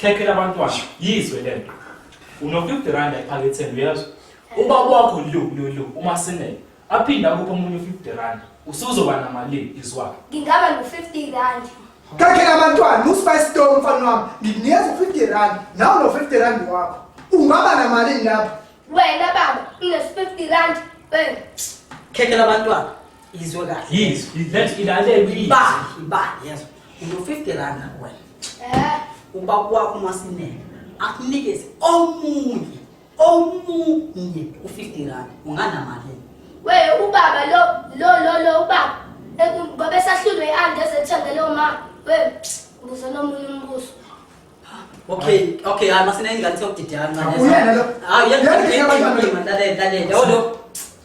khekhe labantwana yizwe le nto unofifty rand ephaketheni uyezwa ubaba wakho lu lu lu umasinele aphinde akuphe omunye u-fifty rand usuzoba namalini izwakhe ngingaba no-fifty rand khekhe labantwana uspice to mfana wami ngikunikeza u-fifty rand nawe no-fifty rand wakho ungaba namalini lapho wena baba unes-fifty rand wena khekhe labantwana izwe kahle Yes, let's ilalele please. ibali ibali yazo uno-50 rand nakuwena Eh, uba kwakho umasinene akunikeze omunye omunye u-50 rand unganamalini we ubaba lo lo lo lo ubaba Eh, ngoba esahlulwe i-andi ezethengele uma we ubuze nomunye umbuso okay okay hayi masinene ingane seyokudideka kancane Uyena lo. hayi Uyena lo. uyena lalela lalela olo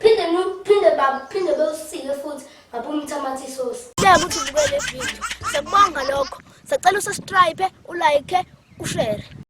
Phinde nu phinde baba phinde bewusike futhi baba umthamatha isosi. Siyabonga ukuthi ubukele video. Siyabonga lokho. Sacela usubscribe, ulike, ushare.